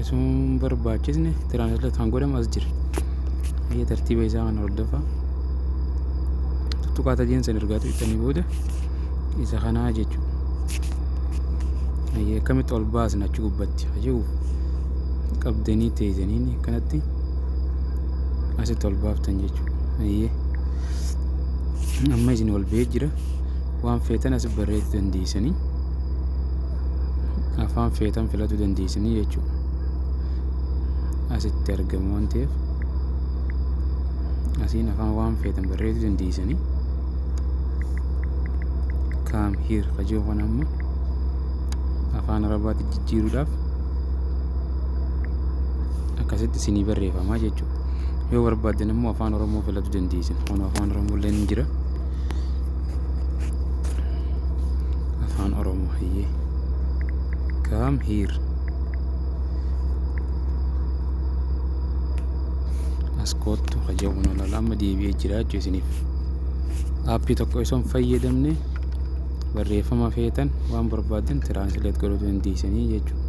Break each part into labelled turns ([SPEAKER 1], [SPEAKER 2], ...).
[SPEAKER 1] Osoo hin barbaachisne tiraansleet kan godhamu as jira. Ayyee tartiiba isaa kana hordofaa. Tuttuqaa tajeen san ergaa tuqxanii booda isa kanaa jechuudha. Ayyee akkamitti ol baasna achi gubbatti hajuu qabdanii teessaniin akkanatti asitti ol baaftan jechuudha. Ayyee amma isin ol ba'ee jira waan feetan as barreessuu dandeessanii. afaan feetan filatuu dandeessanii jechuudha asitti argamu waan ta'eef asiin afaan waan feetan barreessuu dandeessanii kaam hiir kajoo kan amma afaan arabaatti jijjiiruudhaaf akkasitti isinii barreeffamaa jechuudha yoo barbaaddan immoo afaan oromoo filatuu dandeessan kun afaan oromoo illee ni jira. afaan oromoo hayyee kaam hiir as koottu haja'uun olala amma deebi'ee jiraachuu isiniif aappii tokko osoo hin fayyadamne barreeffama feetan waan barbaadan tiraansileet godhuu dandeessanii jechuudha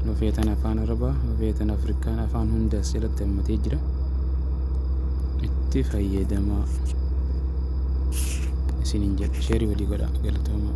[SPEAKER 1] yoo feetan afaan arabaa yoo feetan afrikaan afaan hundas jalatti itti hammatee jira itti fayyadamaa isiniin jedha sheerii walii godhaa galatoomaa